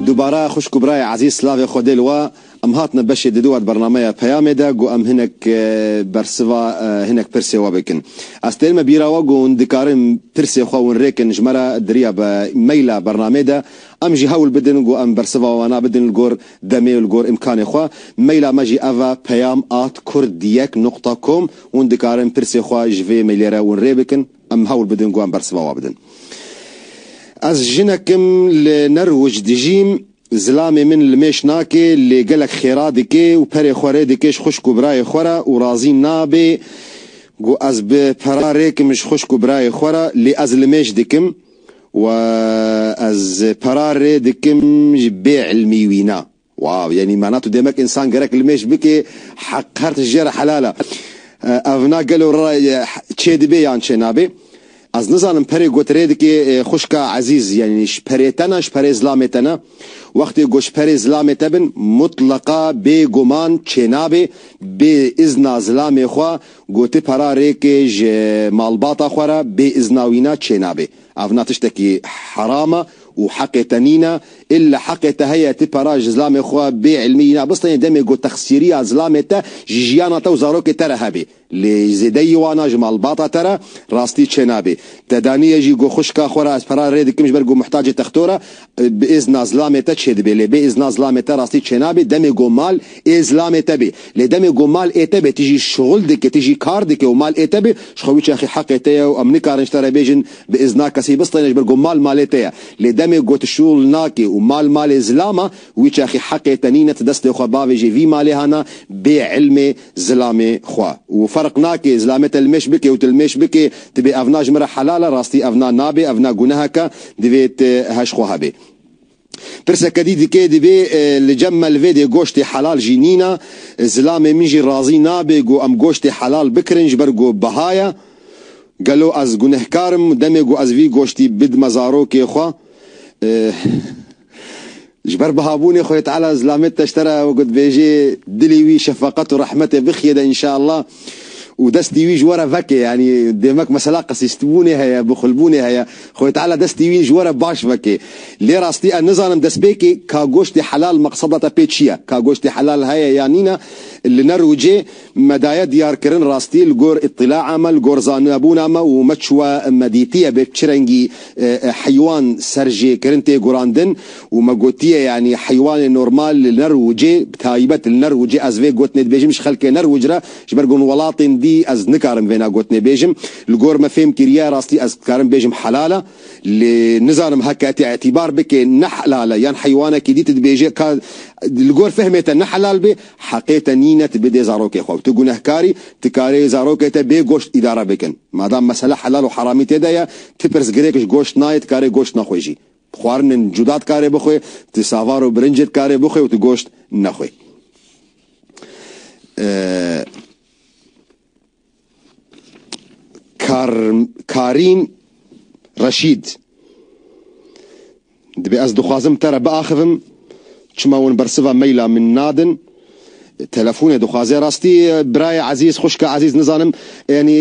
Dubare xwişk û birayê ezîz silavê xwe dê li we. Em hatine beşê di dûet bernameya Peyamê de ku em hinek bersiva hinek pirsê we bikin. Ez têrime bîra we ku hûn dikarin pirsê xwe winrê kin ji me re diriya bi maila bernamê de. Em jî hewl bidin ku em bersiva wana bidin li gor demê û li gor îmkanê xwe. Maila me jî ev e peyam at kurd yek noqta kom. Hûn dikarin pirsê xwe ji vê mailê re winrê bikin. Em hewl bidin ku em bersiva wan bidin. Ez jinek im, li Nerwic dijîm, zilamê min li mêş nake, lê gelek xêra dike û perê xwe rê dike ji xwişk û birayê xwe re û razî nabe ku ez bi pera rê kim ji xwişk û birayê xwe re, lê ez li mêş dikim û ez pera rê dikim ji bêilmî wî ne. Waw yanî mana tu demek însan gerek limêj bikê heq her tişt jê re helal e. Evna gelo re çêdibê yan çênabê? Ez nizanim perê got rê dikê xwişka ezîz yanî ji perê te ne ji perê zilamê te ne. Wextê got ji perê zilamê te bin mutleqa bê guman çênabê bê îzna zilamê xwe gotê pera rêkê ji malbata xwe re bê îzna wîna çênabê. Evna tiştekî heram e û heqê te nîn e, îlla heqê te heye ti para ji zilamê xwe bê îlmî îna bistînî demê ku texsîriya zilamê te ji jiyana te û zarokê te re hebê. Lê ji zêdeyî wan a ji malbata te re rastî çênabê. Te daniye jî ku xwişka xwe re ez para rê dikim ji ber ku muhtacê textor e, bi îzna zilamê te çêdibê. Lê bê îzna zilamê te rastî çênabê demê ku mal ê zilamê te bê. Lê demê ku mal ê te bê ti jî şixul dikî, ti jî kar dikî û mal ê te bê, ji xwe biçexî heqê te ye û em nikarin ji te re bêjin, Bi îzna kesî bistîne ji ber ku mal malê te ye. Lê demê ku tu şûl nakî û mal malê zilama, wî çaxî heqê te nîne tu destê xwe bavêjî vî malê hana bê îlmê zilamê xwe. Û ferq nake zilamê te li mêş bike û tu li mêş bikê, tu bê ev na ji min re helal e, rastî ev na nabê, ev na gunehek e, divê tu heş xwe hebê. Pirseke dî dike divê li cem me li vê dê goştê helal jî nîna, zilamê min jî razî nabe ku em goştê helal bikirin ji ber ku biha ye. Gelo ez gunehkar im demê ku ez vî goştî bidime zarokê xwe? Ji ber bihabûnê Xwedê Teala zilamê teştera wekî dibêjê dilê wî şefeqet û rehmetê bixiye de inşallah. Û destê wî ji we re veke, yanî demek mesela qesîstbûnê heye, bixulbûnê heye, Xwedê Teala destê wî ji we re baş veke. Lê rastî ez nizanim destpêkê ka goştê helal meqseda te pê çi ye? Ka goştê helal heye yan nîn e, li ne rojê me daye diyarkirin rastî li gor îtîlaa me, li gor zanibûna me û me çûye me dîtiye bê çi rengî heywan serjêkirin tê gurandin. Û me gotiye yanî heywanê normal li Nerwcê bi taybet li Nerwcê ez vê gotinê dibêjim ji xelkê Nerwc re ji ber ku hûn welatên dî ez nikarim vêna gotinê bêjim. Li gor me fêm kiriye rastî ez dikarim bêjim helal e. Lê nizanim heke te îtîbar bike ne helal e yan heywanekî dî tu dibêje ka li gor fehmê te ne helal be heqê te nîne tu bidê zarokê xwe. Tu gunehkar î tu karê zarokê te bê goşt îdare bikin. Madam mesele helal û heramî tê de ye tu pirsgirêk ji goşt nayê tu karê goşt naxwe jî Xwarinên cuda dikarê bixwe, tu savar û birincê dikarê bixwe û tu goşt nexwe. Kar Karîn Reşîd, Dibê ez dixwazim te re biaxivim, çima wan bersiva maila min nadin? Telefonê dixwaze rastî birayê ezîz, xwişka ezîz nizanim yanî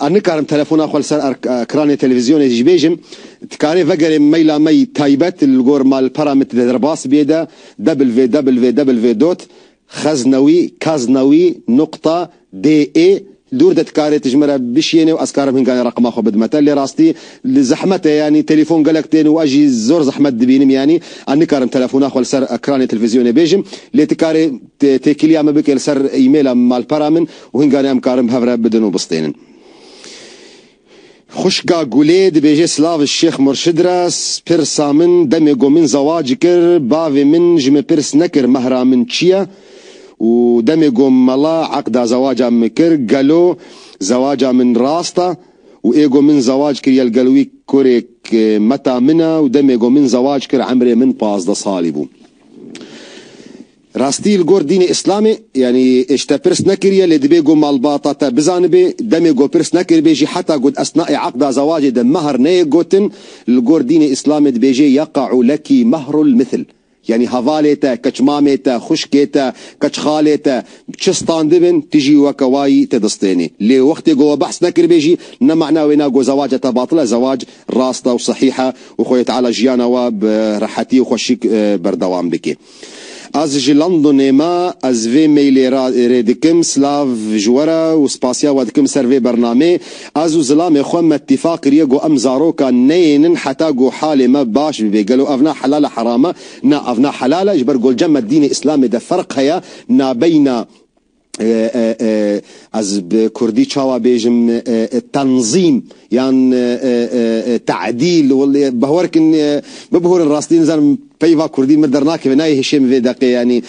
ez nikarim telefona xwe li ser ekranê televîzyonê jî bêjim. Dikarê vegerê maila me yî taybet li gor malpera min tide derbas bîyê de www dot xeznewî kaznewî nuqta DE, Dûr de tu karê tu ji min re bişiyênê û ez karim hin ganê reqima xwe bidime te. Lê rastî li zehmet e yanî telefon gelek tên û ez jî zor zehmet dibînim yanî ez nikarim telefona xwe li ser ekranê televîzyonê bêjim. Lê tu karê têkiliya min bikê li ser emaila malpera min û hin ganê em karin bi hev re bidin û bistênin. Xwişka Gulê dibêje silav ji Şêx Murşid re, pirsa min demê ku min zewac kir bavê min ji min pirs nekir mehra min çi ye û demê ku mala eqda zewaca min kir gelo zewaca min rast e û ê ku min zewac kiriye li gel wî kurêk meta min e û demê ku min zewac kir emrê min pazdeh salî bû. Rastî li gor dînê îslamê yanî îşte pirs nekiriye lê dibê ku malbata te bizanibê, demê ku pirs nekiribê jî heta ku di esnaê eqda zewacê de mehr neyê gotin li gor dînê îslamê dibêjê yaqa'u leki mehrul mithil yanî hevalê te, keçmamê te, xwişkê te, keçxalê te çi standibin tu jî weke wayî tê distênê lê wextê ku we behs nekiribê jî ne mana wê na ku zewaca te batil e zewac rast e û sehîh e û Xwedê Teala jiyana we bi rehetî û xweşik berdewam dike. Ez ji Londonê me, ez vê mailê re rê dikim, silav ji we re û spasiya we dikim ser vê bernamê. Ez û zilamê xwe me tîfaq kiriye ku em zarokan neyênin heta ku halê me baş bibê. Gelo ev ne helal e heram e? Na ev ne helal e, ji ber ku ji me dînê îslamê de ferq heye nabeyna. Ez bi kurdî çawa bêjim tenzîm yan te'dîl behwer kin bibihûrin rastî nizanim peyva kurdî min dernakeve nayê hişê min vê deqê yanî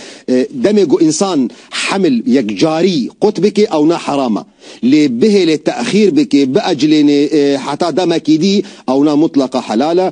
demê ku însan hemil yekcarî qut bike ew ne heram e lê bihêlê te'xîr bike biecilênê heta demekî dî ewna mutleqa helal e.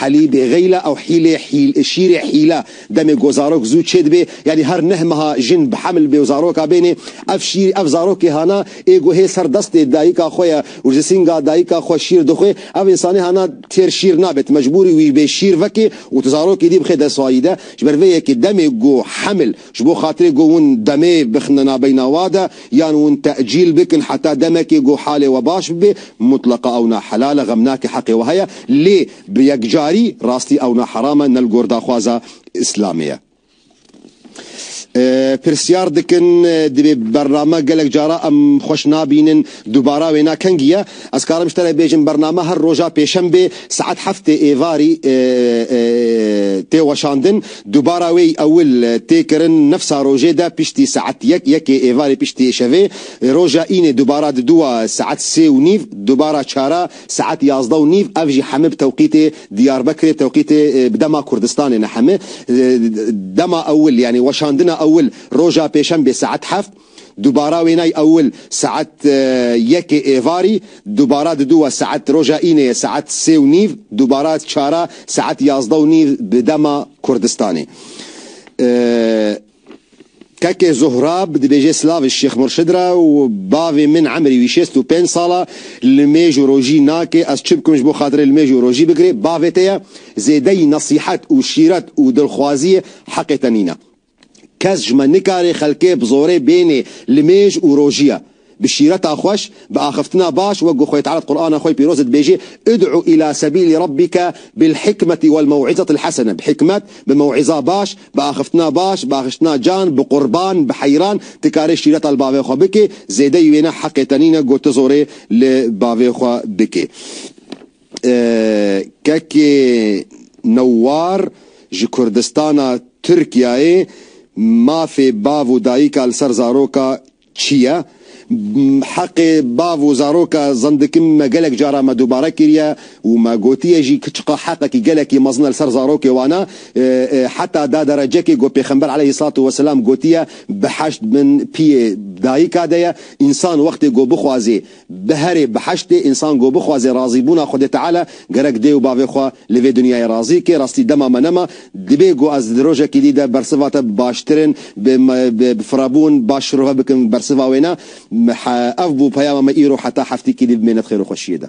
Helî bê xeyla ew hîlê hîl şîrê hîla demê ku zarok zû çê dibê yanî her neh meha jin bi heml bê û zaroka bênê ev şîr ev zarokê hana ê ku hê ser destê dayika xwe ye û ji sînga dayika xwe şîr dixwê ev însanê hana têr şîr nabe tu mecbûrî wî bê şîr vekê û tu zarokê dî bixê dest wayî de ji ber vê yekê demê ku heml Ji bo xatirê ku hûn demê bixine nabeyna wa de yan hûn tecîl bikin heta demekê ku halê we baş bibe, mutleqa ew ne helal e, xemnakê heqê we heye, lê bi yekcarî rastî ew ne heram e, ne li gor daxwaza Îslamê ye. Pirsyar dikin, divê bername gelek caran em xweş nabînin. Dubara wêna kengî ye. Ez karim ji te re bêjim bername her roja pêşembê saet heftê êvarî tê weşandin. Dubara wê yî ewil tê kirin nifsa rojê de piştî saet yek, yekê êvarê piştî îşevê. Roja înê dubara di dûa saet sê û nîv, dubara çara saet yazdeh û nîv ev jî heme bi tewqîtê Diyarbekirê tewqîtê bi dema Kurdistanê ne heme. Dema ewil yanî weşandina ewil roja pêşembê saet heft. Dubara wênay ewil saet yekê êvarî, dubara diduwa saet roja îneyê saet sê û nîv, dubara çara saet yazdeh û nîv bi dema Kurdistanê. Kekê Zohrab dibêjê Slaviş Şêx Murşid ra û Bavê min emrî wî şêst û pênc sal a, li mêj û rojî nake, ez çi bikim ji bo xatirê li mêj û rojî bigirê, bavê te ye, zêdeyî nesîhet û şîret û dilxwaziyê heqê te nîne. Kes ji me nikare xelkê bi zorê bênê li mêj û rojiya. Bi şîreta xweş, bi axiftina baş wek ku xwe Teala di Qur'ana xwe pîroz de dibêjê, Ud'u îlâ sebîlî Rabbike bil-hikmeti wel-mew'izetil hasene, bi hikmet, bi mew'iza baş, bi axiftina baş, bi axiştina can, bi qurban, bi heyran, tu karê şîreta li bavê xwe bikê, zêdeyî wê ne, heqê te nîne ku tu zorê li bavê xwe bikê. Kekê Newwar ji Kurdistana Tirkiyeyê mafê bav û dayika li ser zaroka çi ye? Heqê bav û zaroka zendikin me gelek caran me dubare kiriye û me gotiye jî ku çiqa heqekî gelekî mezin e li ser zarokê wan e. Heta da derecekê ku Pêxember aleyhî selat û weselam gotiye, Bi heşt bin piyê dayika de ye. Însan wextê ku bixwazê Bi herê bi heştê însan ku bixwaze razîbûna Xwedê Teala, gerek dê û bavê xwe li vê dinyayê razî bike, rastî dema me nema, dibê ku ez di rojekî dî de bersiva te bi baştirin, bi bi firebûn baş şirove bikim bersiva wê ne. Ev bû peyama me îro heta heftêkî dî bi mênet xêr û xweşiyê de.